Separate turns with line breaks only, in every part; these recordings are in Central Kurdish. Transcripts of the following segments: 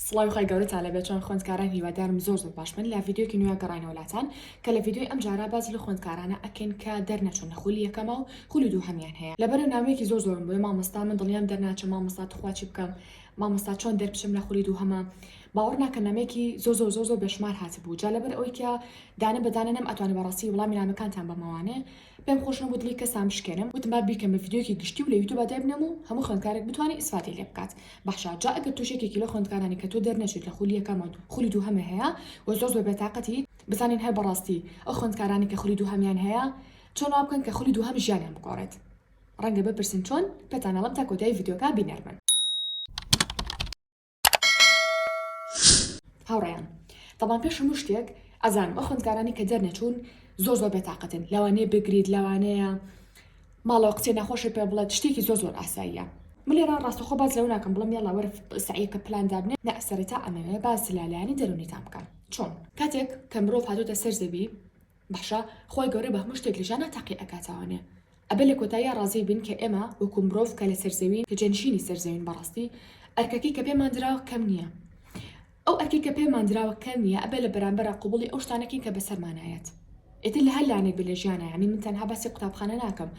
سڵاوی خوای گەورەتان لەبێت چۆن خوێندکاران هیوادارم زۆر زۆر باشبن لە ڤیدیۆکی نوێ گەڕاینەوە لاتان کە لە ڤیدیۆی ئەم جارە باس لە خوێندکارانە ئەکەین کە دەرنەچوون لە خولی یەکەمە و خولی دووهەمیان هەیە لەبەرە نامەیەکی زۆر زۆرم بۆیە مامۆستا من دڵنیام دەرناچم مامۆستا توخوا چی بکەم مامۆستا چۆن دەربچم لە خولی دووهەمە باوەڕ ناکە نامەیەکی زۆر زۆر زۆر زۆر بێشمار هاتبوو جا لەبەر ئەوەی کە دانە بەدانە نەم ئەتوانێ بەڕاستی وڵامی نامەکانتان بەمەوانێ پێم خۆش نەبوو دڵی کەسان بشکێنم وتم با بیکەم بە ڤیدیۆیەکی گشتی و لە یوتوبا دایبنێم و هەموو خوێندکارێک بتوانێ ئیسفادەی لێ بکات بەحشا جا ئەگەر تۆش یەکێکی لەو خوێندکارانی کە تۆ دەرنەچوویت لە خولی یەکەمت خولی دووهەمی هەیە و زۆر زۆر بێتاقەتی بزانین هەر بەڕاستی ئەو خوێندکارانەی کە خولی دووهەمیان هەیە چۆن وا بکەن کە خولی دووهەم ژیانیان بگۆڕێت ڕەنگە بپرسن چۆن پێتان ئەڵێم تا کۆتایی ڤیدیۆکە بینەر بن. هاوڕێیان تەبان پێش هەموو شتێک ئەزانم ئەو خوندکارانی کە دەرنەچوون زۆر زۆر بێتاقەتن لەوانەیە بگریت لەوانەیە ماڵەوە قسێ ناخۆشە پێ بڵێت شتێکی زۆر زۆر ئاساییە ملێرا ڕاستەخۆ باز لەو ناکەم بڵم یاڵا وەرە سعیەکە پلان دابنێ نە سەرەتا ئەمەوێ باز لالایانی دەرونی تام بکەن چۆن کاتێک کە مرۆڤ هاتوتە سەر زەوی باشە خوای گەورە بە هەموو شتێک لە ژیانا تاقی ئەکاتەوانێ ئەبێ لە کۆتاییا ڕازی بین کە ئێمە وەکو مرۆڤ کە لە سەر زەوین کە جێنشینی سەر زەوین بەڕاستی ئەرکەکەی کە پێمان دراوە کەم نییە ئەو ئەرکەی کە پێمان دراوە کەم نییە ئەبێ لە بەرامبەرا قبوڵی ئەو شتانە کەین کە بە سەرمانا یەت ئیتر لە هەر لایەنێک بێ لە ژیانا یانی من تەنها باسی قوتابخانە ناکەم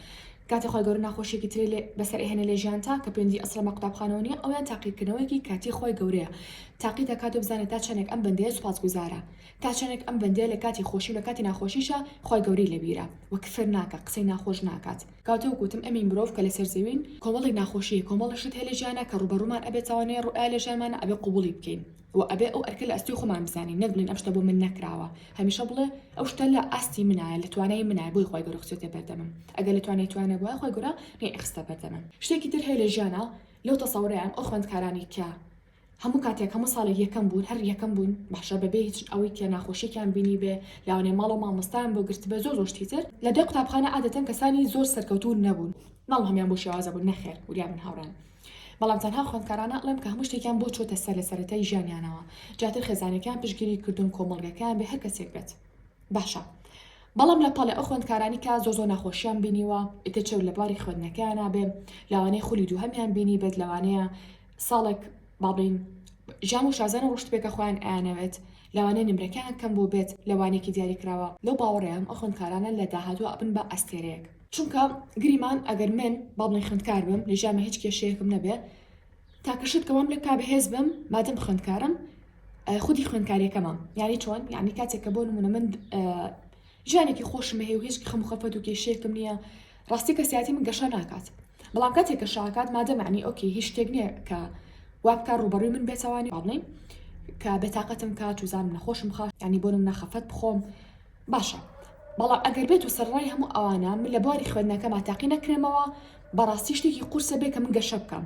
کاتێ خوای گەورە ناخۆشیێکی ترێ لێ بەسەر ئێهێنە لە ژیانتا کە پێنجی ئەسڵە مە قوتابخانەوە نییە ئەویان تاقیکردنەوەیەکی کاتی خوای گەورەیە تاقیت دەکات و بزانێت تا چەندێک ئەم بەندەیە سوپاسگوزارە تا چەنێک ئەم بەندەیە لە کاتی خۆشی و لە کاتی ناخۆشیشا خوای گەورەی لە بیرە و کفر ناکا قسەی ناخۆش ناکات کەواتە وەک وتم ئێمەی مرۆڤ کە لەسەر زەوین کۆمەڵێک ناخۆشی هەیە کۆمەڵێک شت هەیە لە ژیانا کە ڕووبەڕوومان ئەبێت تاوانەیە ڕوئایە لە ژیانمانا ئەبێ قبوڵی بکەین و ئەبێ ئەو ئەرکە لە ئەستۆی خۆمان بزانین نەک بڵێین ئەم شتە بۆ من نەکراوە هەمیشە بڵێ ئەو شتە لە ئاستی منایە لە توانای منایە بۆی خوای گەورە خستۆتە بەردەمم ئەگەر لە توانای توا نەبوایە خوای گەورە نەیئەخستە بەردەمم شتێکی تر هەیە لە ژیانا لەو تەسەورەیان ئەو خوێندکارانەی کە هەموو کاتێک هەموو ساڵێک یەکەم بوون هەر یەکەم بوون بەحشە بەبێ هیچ ئەوەی تیا ناخۆشیەکیان بینی بێ لاوانێ ماڵەوە مامۆستایان بۆ گرتبێ زۆر زۆر شتی تر لە دەی قوتابخانە عادەتەن کەسانی زۆر سەرکەوتوو نەبوون ناڵم هەمیان بۆ شێوازە بوون نەخێر وریا بن هاوڕێن بەڵام تەنها خوێندکارانە ئەڵێم کە هەموو شتێکیان بۆ چۆتە سەر لە سەرەتای ژیانیانەوە جاتر خێزانەکەیان پشگیری کردوون کۆمەڵگەکەیان بێ هەر کەسێک بێت باشە بەڵام لە پەڵێ ئەو خوێندکارانی کە زۆ زۆ ناخۆشیان بینیوە ئیتر چەو لە بواری خوێندنەکەیان نابێ لەوانەیە خولی دووهەمیان بینی بێت لەوانەیە ساڵێک با بڵێین ژان و شازان ڕۆشتبێکە خۆیان ئەیانەوێت لەوانەیە نمرەکەیان کەم بۆ بێت لە وانەیەکی دیاری کراوە لەو باوەڕێم ئەو خوێندکارانە لە داهاتوە ئەبن بە ئەستێرەیەک چونکە گریمان ئەگەر من با بڵێین خوێندکار بم لە ژیانمە هیچ کێشەیەکم نەبێ تاکە شت کە وام لێ بکا بەهێز بم مادەم خوێندکارم خودی خوێندکاریەکەمە یانی چۆن یعنی کاتێک کە بۆ نمونە من ژیانێکی خۆشم هەیە و هیچ خەم و خەفەت و کێشەیەکم نییە ڕاستی کەسیاتی من گەشە ناکات بەڵام کاتێک کە شاکات مادە معنی ئۆکی هیچ شتێک نییە کە وابکە ڕوبەڕوی من بێتوانی ڕڵین کە بێتاقەتم کات و زانم نەخۆشم خاش ینی بۆنم نەخەفەت بخۆم باشە بەڵام ئەگەر بێت و سەرڕای هەموو ئەوانە من لە بواری خوێندنەکەما تاقی نەکرێمەوە بەڕاستی شتێکی قورسە بێ کە من گەشە بکەم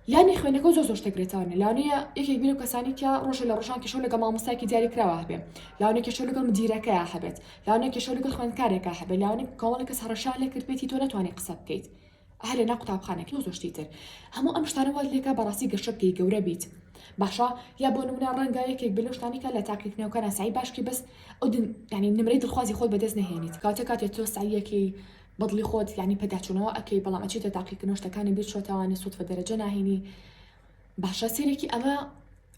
لانی خوێندنەکەو زۆر زۆر شتێک لێتوانێ لانەیە یەکێک بیر و کەسانی تیا ڕۆژە لە ڕژان کێشەو لەگە مامۆستایکی دیاری کراوە هەبێ لاانێ کێشەو لەگەڵ مدیرەکەیە هەبێت لاانێ کێشەو لەگەڵ خوێندکارێکە هەبێ لاانێ کۆمەڵی کەس هەڕەشان لێ کردبێتی تۆ نەتوانانی قسە بکەیت هەر لە نا قوتابخانێک لۆ زۆشتی تر هەموو ئەم شتانە وات لێکا بەڕاستی گەشەبگەی گەورە بیت باشە یا بۆ نمونە ڕەنگە یەکێک بلو شتانیکە لە تاقیکردنەوەکە ناسایی باشکی بەس ئەو ینی نمرەی دڵخوازی خۆت بەدەست نەهێنیت کاتە کاتێ تۆ سعیەکەی بەدڵی خۆت یانی پێداچونەوە ئەکەی بەڵام ئەچیتە تاقیکردنەوە شتەکانی بیر چۆتەوانێ سوتفە دەرەجە ناهینی باشە سێرێکی ئەمە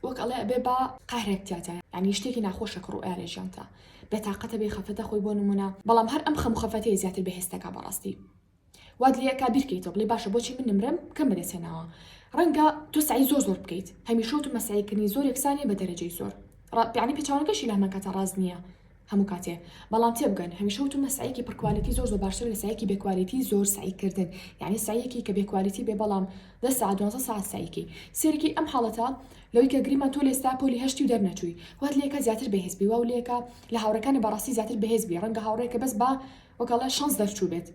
وەک ئەڵێ ئەبێ با قاهرێک تیاتا ینی شتێکی ناخۆشە کڕ و ئارێ ژیانتا بێتاقەتە بێ خەفەتە خۆی بۆ نمونە بەڵام هەر ئەم خەم خەفەتەیە زیاتر بەهێستەکە بەڕاستی واد لەکە بیرکەیتۆ بڵێ باشە بۆچی من نمرم کەم بەدەسێناوە ڕەنگە تۆ سعی زۆر زۆر بکەیت هەمیشە و مەسعیکردنی زۆر یەکسانی بە دەرەجەی زۆر ڕپیانی پێچوانەکەشی لەمەکەتە ڕاز نییە هەموو کاتێ بەڵام تێبگەن هەمیشە وتومە سەعیەکی پڕ کوالێتی زۆر زۆر باشترە لە سەعیەکی بێ کوالێتی زۆر سەعی کردن یانی سەعیەکی کە بێ کوالێتی بێ بەڵام دە سەعات دوازدە سەعات سەعی کەی سێرکی ئەم حاڵەتە لەوەی کە گریمان تۆ لێستا پۆلی هەشتی و دەرنەچووی وات لێکە زیاتر بەهێز بی واو لێکە لە هاوڕێکانە بەڕاستی زیاتر بەهێز بی ڕەنگە هاوڕێکە بەس با وەک ئەڵێ شەنس دەرچوو بێت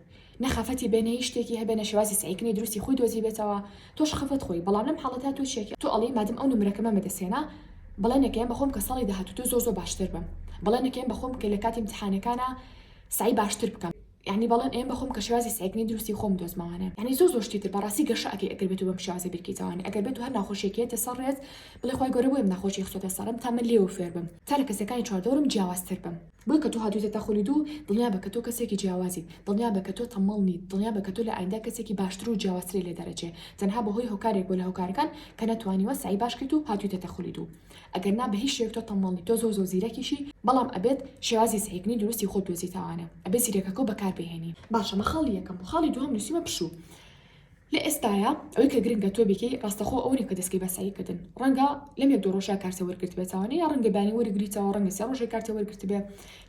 نە خەفەتی بێ نە هیچ شتێکی هەبێ نە شێوازی سەعیکردنی دروستی خۆی دۆزیبێتەوە تۆش خەفەت خۆی بەڵام لەم حاڵەتە تۆ چیەکی تۆ ئەڵێی مادەم ئەو نمرەکەمەم بەدەستهێنا بەڵێنێکەیەم بەخۆم کە ساڵی داهاتوو تۆ زۆر زۆر باشتر بم بەڵێنێکەیەم بەخۆم کە لە کاتی امتحانەکانا سەعی باشتر بکەم یانی بەڵێن ئەیەم بەخۆم کە شێوازی سەعیکردنی دروستی خۆم دۆزمەوانێ یانی زۆر زۆر شتی تر بەڕاستی گەشە ئەکەی ئەگەر بێت و بەم شێوازە بیرکەیتەوانێ ئەگەر بێت و هەر ناخۆشیەکی هەیەتە سەر ڕێت بڵێ خوای گەورە بۆیەم ناخۆشی خستۆتە سەرم تا من لێوە فێر بم تا لە کەسەکانی چواردەوەرم جیاوازتر بم بۆیە کە تۆ هاتوویتەتە خولی دوو، دڵنیابە کە تۆ کەسێکی جیاوازیت، دڵنیابە کە تۆ تەممەڵ نیت، دڵنیابە کە تۆ لە ئایندە کەسێکی باشتر و جیاوازتری لێ دەرەچێ، تەنها بەهۆی هۆکارێک بووە لە هۆکارەکان کە نەتوانیوە سەعی باش کەیت و هاتوویتەتە خولی دوو. ئەگەر نا بە هیچ شێوەیەک تۆ تەممەڵ نیت، تۆ زۆر زۆر زیرەکیشی، بەڵام ئەبێت شێوازی سەعیکردنی دروستی خۆت بدۆزیتەوانە، ئەبێت زیرەکەکەو بەکاربهێنی. باشە مە خاڵی یەکەم و خاڵی دووهەم نووسیومە پشوو. لە ئێستایا ئەوەی کە گرنگە تۆ بیکەی ڕاستەخۆ ئەوە نیە کە دەسکەی بە سەعی کردن ڕەنگە لەم یەک دوو ڕۆژە کارتە وەرگرتبێتەوە نە یا ڕەنگە بانی وەرگریتەوە ڕەنگە سێ ڕۆژێ کارتە وەرگرتبێ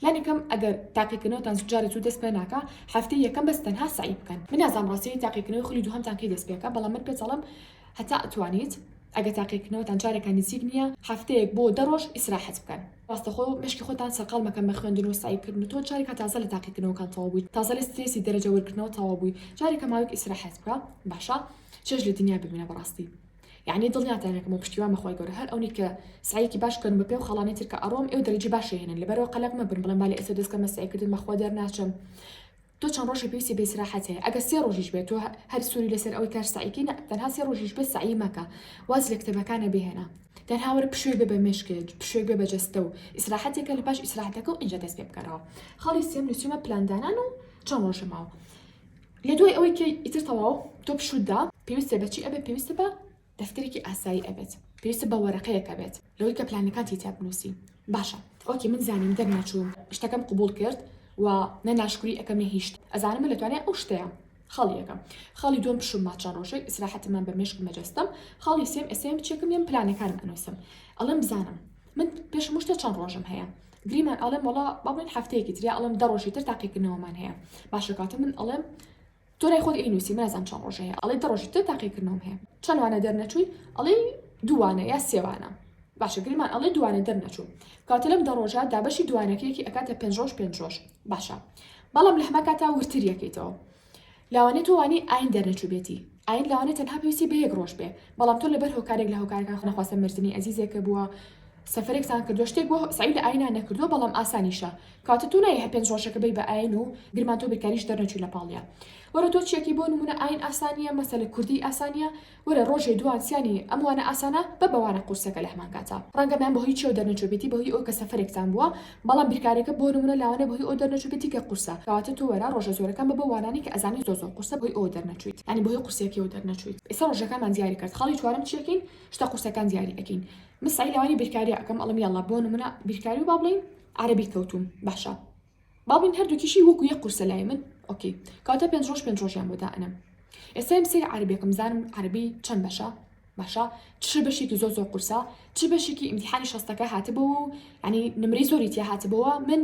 لانی کەم ئەگەر تاقیکردنەوەتان زوو جارێ زوو دەست پێ ناکا هەفتەی یەکەم بەس تەنها سەعی بکەن من نازانم ڕاستی تاقیکردنەوەی خولی دووهەمتان کەی دەست پێکا بەڵام من پێتەڵم هەتا ئەتوانیت ئەگەر تاقیکردنەوەتان جارێکە نزیک نیە هەفتەیەک بۆ دە ڕۆژ ئیسراحەت بکەن ڕاستەخۆ مێشکی خۆتان سەرقاڵ مەکەن بە خوێندن و سەعی بکردن و تۆ جارێکە تازە لە تاقیکردنەوەکان تەواو بوویت تازە لە سترێسی دەرەجە وەرگرتنەوە تەواو بووی جارێکە ماوەیەک ئیسراحەت بکە باشە چێژ لە دنیا ببینە بەڕاستی یعنی دڵنیاتان هەکەم و پشتیوان بەخوای گەورە هەر ئەونی کە سعیکی باش کەن بە پێ و خاڵانی تر کە ئەڕۆم ئێو دەرەجی باشێنن لەبەرەوە قەلەق مەبن بڵێن با لە ئێستا دەستکەمە سعیکردن بەخوا دەرناچم تۆ چەند ڕۆژی پێویستی بە ئیسراحەت هەیە ئەگەر سێ ڕۆژیش بێت تۆ هەر سوری لەسەر ئەوەی کار سەعی کەی نە تەنها سێ ڕۆژیش بێت سەعی مەکە واز لە کتێبەکانە بهێنە تەنها وەرە پشوێک بێ بە مێشکت پشوێک بێ بە جەستە و ئیسراحەتێکە لە پاش ئیسراحەتەکە و ئینجا دەست پێ بکەرەوە خاڵی سێم نووسیمە پلاندانان و چەند ڕۆژە ماوە لە دوای ئەوەی کە ئیتر تەواو تۆ پشودا پێویستە بە چی ئەبێ پێویستە بە دەفتەرێکی ئاسایی ئەبێت پێویستە بە وەرەقەیەکە بێت لەوەی کە پلانەکانتی تیا بنوسی باشە ئۆکەی من زانیم دەرنەچوم شتەکەم قبوڵ کرد و نە ناشکری ئەکەم نە هیچ ئەزانم من لە توانای ئەو شتەیە خاڵی یەکەم خاڵی دوم پشوم ماچە ڕۆژێک ئیسراحەتم من بە مێشک مەجەستەم خاڵی سێم ئێستا من چێکم لێم پلانەکانم ئەنوسم ئەڵێم بزانم من پێش مشتە چەند ڕۆژم هەیە گریمان ئەڵێم وڵا بابن هەفتەیەکی تریا ئەڵم دە ڕۆژی تر تاقیکردنەوەمان هەیە باشە کاتە من ئەڵێم تۆ لای خۆت ئەی نوسی نازام چەند ڕۆژ هەیە ئەڵێ دە ڕۆژی تر تاقی کردنەوەم هەیە چەند وانە دەرنەچووی ئەڵێی دووانە یا سێوانە باشە گریمان ئەڵێ دووانە دەرنەچوو کاتە لەم دە ڕۆژە دابەشی دووانەکەیەکی ئەکاتە پێنج ڕۆژ پێنج ڕۆژ باشە بەڵام لە هەما کاتا ورتر یەکەیتەوە لاوانێت توانی ئاین دەرنەچوو بێتی ئاین لاوانێت تەنها پێویستی بە یەک ڕۆژ بێ بەڵام تۆ لەبەر هۆکارێک لە هۆکارەکان خنەخواستە مردنی ئەزیزێکە بووە سەفەرێکتان کردوە شتێک بۆ سەعی لە ئاینان نەکردوە بەڵام ئاسانیشە کەواتە تۆ نایە هەر پێنج ڕۆژەکە بەی بە ئاین و گرمان تۆ بێکاریش دەرنەچوی لە پاڵیا وەرە تۆ چیەکی بۆ نمونە ئاین ئاسانیە مەسەلە کوردی ئاسانیە وەرە ڕۆژێ دوان سیانی ئەموانە ئاسانە بە بەوانە قورسەکە لە هەمان کاتا ڕەنگە میان بە هۆی چیەوە دەرنەچوبێتی بەهۆی ئەو کە سەفەرێکتان بووە بەڵام بیرکارەکە بۆ نمونە لاوانە بە هۆی ئەو دەرنەچوبێتی کە قورسە کەواتە تۆ وەرە ڕۆژە زۆرەکان بە بە وانانی کە ئەزانی زۆر زۆر قورسە بەهۆی ئەوە دەرنەچویت یانی بەهۆی قورسیەکەوە دەرنەچویت ئێستا ڕۆژەکانمان دیاری کرد خاڵی چوارەم چیەکەین شتە قورسەکان دیاری ئەکەین من سەعی لەوانی بیرکاریە ئەکەم ئەڵم یاڵا بۆ نمونە بیرکاری و با بڵێین عربی کەوتوم باشە با بڵین هەردووکیشی وەکو یە قورسە لای من ئۆکی کاتە پێنج ڕۆژ پێنج ڕۆژیان بۆ دائەنم ئێسایم سری عربێکم زانم عربی چەند بەشە باشە چ بەشێکی زۆ زۆ قورسە چ بەشێکی ئیمتحانی شەستەکە هاتبەوە و ینی نمری زۆری تیا هاتبەوە من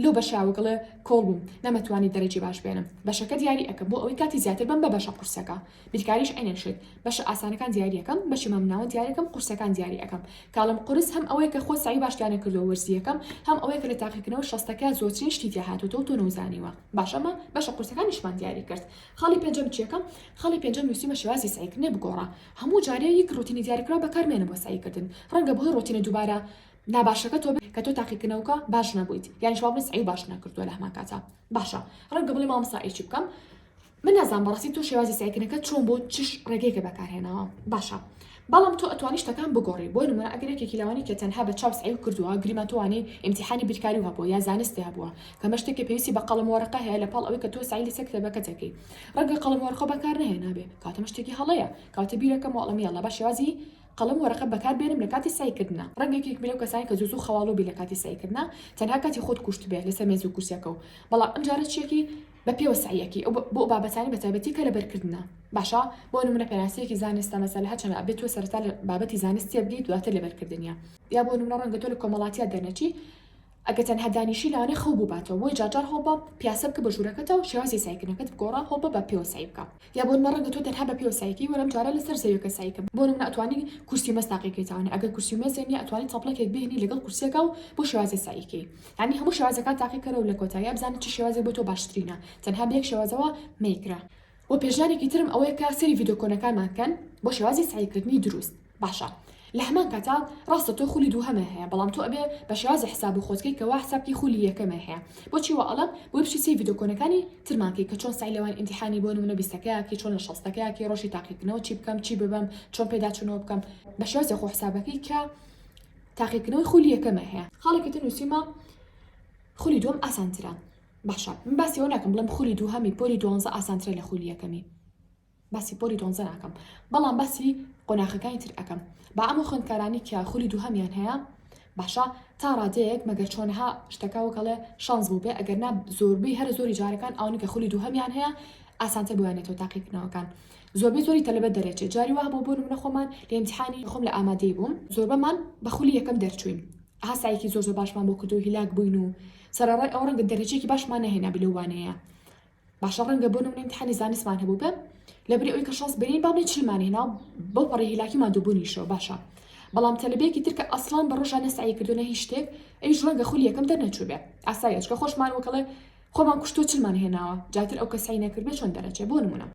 لۆ بەشاوگڵێ کۆڵ بووم نەمەتوانی دەرەجی باش بێنم بەشەکە دیاری ئەەکە بۆ ئەوەی کاتی زیاتر بم بە بەشە قورسەکە بیرکاریش عەینەن شت بەشە ئاسانەکان دیاری ئەکەم بەشی مامناوەند دیاری ئەکەم قورسەکان دیاری ئەکەم کاڵم قورس هەم ئەوەیە کە خۆ سەعی باشتیان نەکردووە وەرزییەکەم هەم ئەوەیە کە لە تاقیکردنەوە شەستەکە زۆرترین شتی تیا هاتۆتەوە تۆ نەوزانیوە باش ئەمە بەشە قورسەکانیشمان دیاری کرد خاڵی پێنجەم چیەکە خاڵی پێنجەم نوسیومە شێوازی سەعی کردنێ بگۆڕە هەموو جارێ یەک ڕۆتینی دیاریکراو بەکار مێنە بۆ سەعی کردن ڕەنگە بەهۆی ڕۆتینە دووبارە ناباشەکە تۆ بێ کە تۆ تاقیکردنەوەکە باش نەبوویت یانیش وا بڵێ سەعی باش نەکردووە لە هەمان کاتا باشە ڕەنگە بڵێ مامۆستا ئەی چی بکەم من نازانم بەڕاستی تۆ شێوازی سەعیکردنەکەت چۆن بوو چ ڕێگەیەکت بەکارهێناوە باشە بەڵام تۆ ئەتوانی شتەکان بگۆڕی بۆ نمونە ئەگەر یەکێکی لەوانی کە تەنها بە چاو سەعیو کردووە گریمان تۆوانی ئیمتیحانی بیرکاری هەبووە یا زانستی هەبووە کەمە شتێکی پێویستی بە قەڵەم وەرەقە هەیە لە پاڵ ئەوەی کە تۆ سەعی لەسەر کتێبەکە دەکەی ڕەنگە قەڵەم وەرقە بەکار نەهێنابێ کاتەمە شتێکی هەڵەیە کاتە بیرەکە مۆڵەم یاڵا با شێوازی قەڵەم وەرەقە بەکار بێنم لە کاتی سەعیکردنا ڕەنگێکی بلەو کەسانی کە زوزو خەواڵوبی لە کاتی سەعیکردنا تەنها کاتی خۆت کوشتبێ لەسەر مێزو کورسیەکە و بەڵام ئەمجارە چیەکی بە پێوە سەعیەکی ئەو بۆ ئەو بابەتانەی بە تایبەتی کە لە بەر کردنە باشە بۆ نمونە پێناسەیەکی زانستە مەسەلە هەر چەنە ئەبێ تۆ سەرەتا لە بابەتی زانست تێبگەی دواتر لە بەر کردنیە یا بۆ نمونە ڕەنگە تۆ لە کۆمەڵاتیات دەرنەچی ئەگە تەنها دانیشی لەوانەیە خەو بووباتەوە بۆیە جار جار هەوڵ بە پیاسە بکە بە ژوورەکەتەوە شێوازی سەعیکردنەکەت بگۆڕە هەوڵ بە بە پێوە سەعی بکە یا بۆنمە ڕەنگە تۆ تەنها بە پێوە سەعیکەی وەلام جاران لە سەر زەویەکە سەعیکە بۆ نمونە ئەتوانی کورسی و مەز تاقی کەی تاوانە ئەگەر کورسی و مەزێ نیە ئەتوانی تەپڵەکێک بهێنی لەگەڵ کورسیەکە و بۆ شێوازێ سەعی کەی یانی هەموو شێوازەکان تاقی کەرە و لە کۆتاییا بزانە چ شێوازێک بۆ تۆ باشترینە تەنها بە یەک شێوازەوە مەیکرە. وە پێشنیارێکی ترم ئەوەیە کە سەیری ڤیدۆ کۆنەکانمان کەن بۆ شێوازی سەعی کردنی دروست. باشە لە هەمان کاتا ڕاستە تۆ خولی دووهەمە هەیە بەڵام تۆ ئەبێ بە شێوازی حساب و خۆتکەی کە وا حساب کەی خولی یەکەمە هەیە بۆچی وا ئەڵەم بۆی بچی سەی ڤیدۆ کۆنەکانی ترمان کەی کە چۆن سەعی لەوان ئینتیحانی بۆ نمونە بیستەکەیا کەی چۆن لە شەستەکەیا کەی ڕۆژی تاقیکردنەوە چی بکەم چی ببەم چۆن پێداچوونەوە بکەم بە شێوازی خۆ حسابەکەی کە تاقیکردنەوەی خولی یەکەمە هەیە خاڵێکی تر نووسیمە خولی دووەم ئاسانترە باشە من باسی ئەو ناکەم بڵێم خولی دووهەمی پۆلی دوانزە ئاسانترە لە خولی یەکەمی باسی پۆلی دۆنزە ناکەم بەڵام باسی قۆناخەکانی تر ئەکەم با ئەمە خوێندکارانی کە خولی دووهەمیان هەیە باشە تا ڕادەیەک مەگەر چۆنها شتەکە وکەڵێ شانس بوو بێ ئەگەر نا زۆربەی هەر زۆری جارەکان ئەوانی کە خولی دووهەمیان هەیە ئاسانتر بۆیانێتەوە تاقیکردنەوەکان زۆربەی زۆری تەلبەت دەرێچێت جاری وا بۆ بۆ منە خۆمان لە امتحانی خۆم لە ئامادەی بووم زۆربەمان بە خولی یەکەم دەرچوین هاسایەکی زۆر زۆر باشمان بۆ کردو هیلاک بووین و سەرڕای ئەو ڕەنگە دەرەجێکی باشمان نهێنا بلەوانەیە باشە ڕەنگە بۆ نمونە امتحانی زانستمان هەبوو بێ لەبری ئەوی کە شەست بینین با بڵێ چلمان هێنا و بەو پەڕی هیلاکی مادووبوونیشەوە باشە بەڵام تەلبێکی ترکە ئەسڵان بە ڕۆژان نەسعی کردوونە هیچ شتێک ئەویش ڕەنگە خولی یەکەم دەرنەچوو بێ ئاسایەچکە خۆشمان وەکەڵێ خۆمان کوشتۆ چلمان هێناوە جاتر ئەو کەسعی نەکردێ چۆن دەرەچێ بۆ نمونە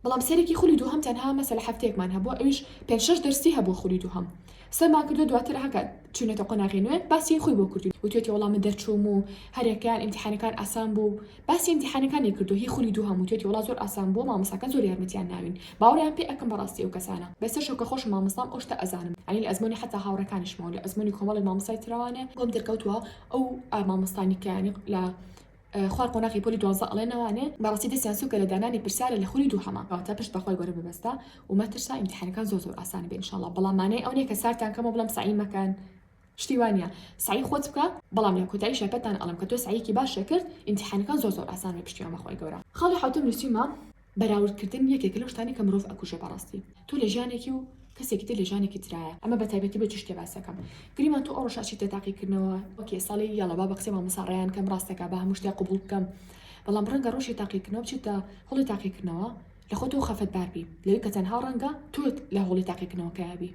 بەڵام سەیرێکی خولی دووهەم تەنها مەسەلە هەفتەیەکمان هەبووە ئەویش پێنج شەش دەرسی هەبووە خولی دووهەم سەرمان کردووە دواتر هەکا چوینەتە قۆناغی نوێ باسی خوی بۆ کردووین وتوێتی وەڵا من دەرچووم و هەریەکەیان ئیمتیحانەکان ئاسان بوو باسی ئیمتیحانەکانی کردووە هی خولی دووهەم وتوێتی وەڵا زۆر ئاسان بووە مامۆستاکان زۆر یارمەتیان ناوین باوەڕیان پێ ئەکەم بەڕاستی ئەو کەسانە بەسەر شەو کە خۆشم مامۆستام ئەو شتە ئەزانم یانی لە ئەزموونی حەتا هاوڕێکانیشمەوە لە ئەزموونی کۆمەڵێک مامۆستای ترەوانێ بۆم دەرکەوتووە ئەو مامۆستانی کە یانی لە خوار قۆناغی پۆلی دوازدە ئەڵێ نەوانێ بەڕاستی دەستیان سوکە لە دانانی پرسیارە لە خولی دووهەما کەواتە پشت بەخوای گەورە ببەستە و مەترسە ئیمتیحانەکان زۆر زۆر ئاسان بێ انشااللە بەڵام مانای ئەو نیە کە سارتان کەمەوە بڵێم سەعی مەکەن شتی وا نیە سەعی خۆت بکە بەڵام لە کۆتایی شەرپەتتان ئەڵێم کە تۆ سەعیەکی باشت کرد ئیمتیحانەکان زۆر زۆر ئاسان بێ پشتیوان بەخوای گەورە خاڵی حەوتەم نوسیومە بەراورد کردن یەکێکە لەو شتانەی کە مرۆڤ ئەکوژێ بەڕاستی تۆ لە ژیانێکی و کەسێکی تر لە ژیانێکی ترایە ئەمە بە تایبەتی بۆ چی شتێ باس ئەکەم گریمان تۆ ئەو ڕۆژە ئەچیتە تاقی کردنەوە ئۆکێ ساڵی یاڵا با بە قسەی مامۆستا ڕەیان کەم ڕاست دەکا با هەموو شتێ قبوڵ بکەم بەڵام ڕەنگە ڕۆژی تاقی کردنەوە بچیتە هەڵی تاقی کردنەوە لە خۆ تۆ خەفەت بار بی لەوەی کە تەنها ڕەنگە تۆت لە هەوڵی تاقی کردنەوەکەیا بی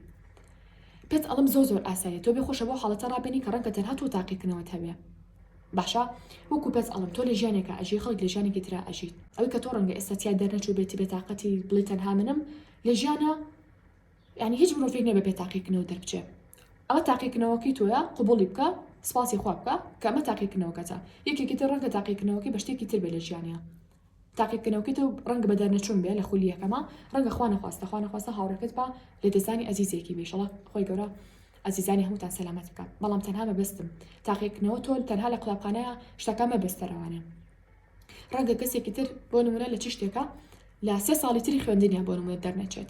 پێت ئەڵم زۆر زۆر ئاساییە تۆ بێ خۆشە بۆ حاڵەتە ڕابێنی کە ڕەنگە تەنها تۆ تاقی کردنەوەت هەبێ باشە وەکو پێت ئەڵم تۆ لە ژیانێکە ئەژی خەڵک لە ژیانێکی ترا ئەژیت ئەوی کە تۆ ڕەنگە ئێستا تیا دەرنەچوو بێتی بێ تااقەتی بڵی تەنها منم لە ژیانە ینی هیچ مرۆڤێک نێ بە پێ تاقیکنەوە دەربچێ ئەوە تاقیکنەوەکەی تۆە قوبڵی بکە سپاسی خوا بکە کەمە تاقیکنەوەکەتە یەکێکی تر ڕەنگە تاقیکنەوەکەی بە شتێکی تر بێ لە ژیانە تاقی بکەنەوە کەتەو ڕەنگە بە دەرنەچوون بێ لە خولی یەکەما ڕەنگە خوا نەخواستە خوا نەخواستە هاوڕێکەت با لە دەستدانی ئەزیزێکی بی شڵە خۆی گەورە ئەزیزانی هەمووتان سەلامەت بکات بەڵام تەنها مەبەستم تاقیکردنەوە تۆ تەنها لە قوتابخانەیە شتەکە مەبەستە ڕەوانە ڕەنگە کەسێکی تر بۆ نمونە لە چ شتێکە لە سێ ساڵی تری خوێندنیان بۆ نمونە دەرنەچێت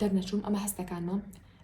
دەرنەچووم ئەمە هەستەکانمە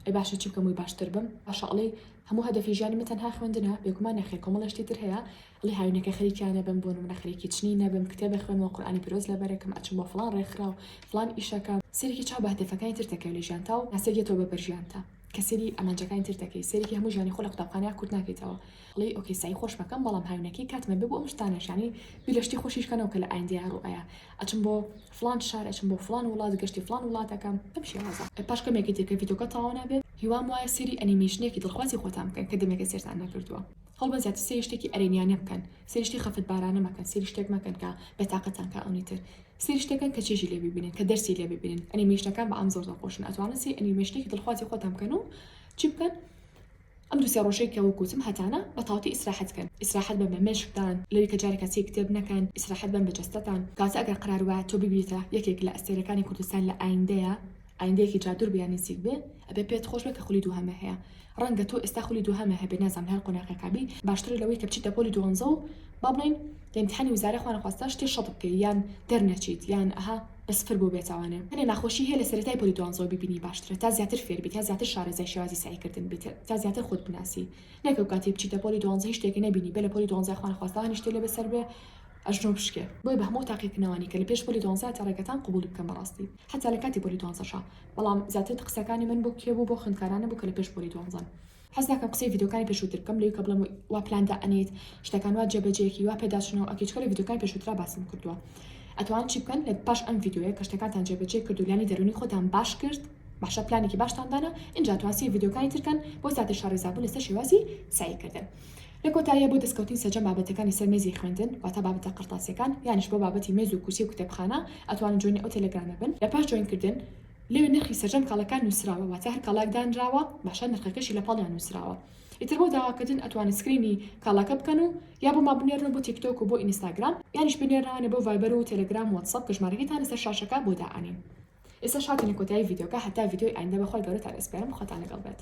ئەی باشە چی بکەم وی باشتر بم باشە ئەڵێ هەموو هەدەفی ژیانی من تەنها خوێندنە بێگومان نەخێر کۆمەڵێشتی تر هەیە ئەڵێ هاوینەکە خەریکیان نەبم بۆ نمونە خەریکی چنین نەبم کتێب بخوێنمەوە قورئانی پیرۆز لەبەرەکەم ئەچم بۆ فڵان ڕێکخراو فڵان ئیش ئەکەم سەیرێکی چاو بە هەدەفەکانی تر دەکەوێت لە ژیانتا و ناسک دێتەوە بە بەر ژیانتا کە سەیری ئامانجەکانی تر دەکەی سەیرێکی هەموو ژیانی خۆ لە قوتابخانەیا کورت ناکەیتەوە ئەڵێی ئۆکەی سەعی خۆش بەکەم بەڵام هاوینەکەی کاتمە بێ بۆ ئەم شتانەش یانی بیر لە شتی خۆشیش کەنەوە کە لە ئایندەیا ڕوو ئەیا ئەچم بۆ فڵان شار ئەچم بۆ فڵان وڵات گەشتی فڵان وڵات ئەکەم بەم شێوازە پاش کەمێکی تر کە ڤیدیۆکە تەواو نابێت هیوام وایە سەیری ئەنیمەیشنێکی دڵخوازی خۆتان بکەن کە دەمێکە سەیرتان نەکردووە هەوڵبەن زیاتر سەیری شتێکی ئەرێنییانە بکەن سەیری شتی خەفەتبارانە مەکەن سەیری شتێک مەکەن کە بێتاقەتتان کا ئەونی تر سەیری شتەکان کە چێژی لێ ببینن کە دەرسی لێ ببینن ئەنیمەیشنەکان بە عام زۆر دڵخۆشن ئەتوانن سەیری ئەنیمەیشنێکی دڵخوازی خۆتان بکەن و چی بکەن ئەم دوو سێ ڕۆژەی کە وەک وتم هەتانە بە تاوتی ئیسراحەت کەن ئیسراحەت بەن بە مێشکتان لەوی کە جارێکە چێی کتێب نەکەن ئیسراحەت بەن بە جەستەتان کاتە ئەگەر قەرار وایە تۆ ببیتە یەکێک لە ئەستێرەکانی کوردستان لە ئایندەیا ئایندەیەکی جا دور بێ یا نزیک بێ ئەبێ پێت خۆش بێ کە خولی دووهەمە هەیە ڕەنگە تۆ ئێستا خولی دووهەمە هەبێ نازانم هەر قۆناغێکا بی باشترە لەوەی کە بچیتە پۆلی دووەنزە و با بڵێین لە ئیمتیحانی وزارە خوانەخواستە شتێ شەت بکەی یان دەرنەچیت یان ئەها بەس فر بۆ بێتاوانێ. هەنێ ناخۆشی هەیە لە سەرەتای پۆلی دوانزەوە بیبینی باشترە تا زیاتر فێر بی تا زیاتر شارەزای شێوازی سەعی کردن بیت تا زیاتر خۆت بناسی نەک ئەو کاتەی بچیتە پۆلی دوانزە هیچ شتێک نەبینی بێ لە پۆلی دوانزە خوا نەخواستە هانی شتێ لێ بەسەر بێ ئەژنۆ بشکێ بۆیە بە هەموو ئەو تاقیکردنەوانەی کە لە پێش پۆلی دوانزە تا ڕێگەتان قبوڵی بکەن بەڕاستی حەتا لە کاتی پۆلی دوانزەشا بەڵام زیاتر قسەکانی من بۆ کێ بوو بۆ خوێندکارانە بوو کە لە پێش پۆلی دوانزەن حەز ناکەم قسەی ڤیدۆکانی پێشووتر بکەم لەوی کە بڵێم وا پلان دا ئەنێیت شتەکان وا جێبەجێکی وا پێداچنەوە ئەکەی چکە لە ڤیدۆکانی پێشووترا باسم کردووە ئەتوان چی بکەن لە پاش ئەم ڤیدۆیە کە شتەکانتان جێبەجێ کرد و لانی دەرونی خۆتان باش کرد باشە پلانێکی باشتان دانا ئینجا توانسی ڤیدۆکانی ترکەن بۆ زیاتر شارەزابوون لەسەر شێوازی سعی کردن لە کۆتاییە بۆ دەستکەوتنی سەرجەم بابەتەکانی سەر مێزی خوێندن واتە بابەتە قرتاسیەکان یانش بۆ بابەتی مێز و کورسی و کتێبخانە ئەتوانن جۆینی ئەو تێلێگرامە بن لە پاش جۆین کردن لەوێ نرخی سەرجەم کاڵەکان نوسراوە واتە هەر کاڵاک دانراوە باشە نرخەکەشی لەپاڵیان نوسراوە ئیتر بۆ داواکردن ئەتوانن سکرینی کاڵاکە بکەن و یا بۆمان بنێرنەوە بۆ تیکتۆک و بۆ ئینستاگرام یانیش بنێرنەوانە بۆ ڤایبەر و تێلێگرام و واتسەپ کە ژمارەکەیتان لەسەر شاشەکە بۆ دائەنێین ئێستاش هاتینە کۆتایی ڤیدیۆکە هەتا ڤیدیۆی ئایندە بەخوای گەورەتان ئەسپێرم خواتان لەگەڵ بێت.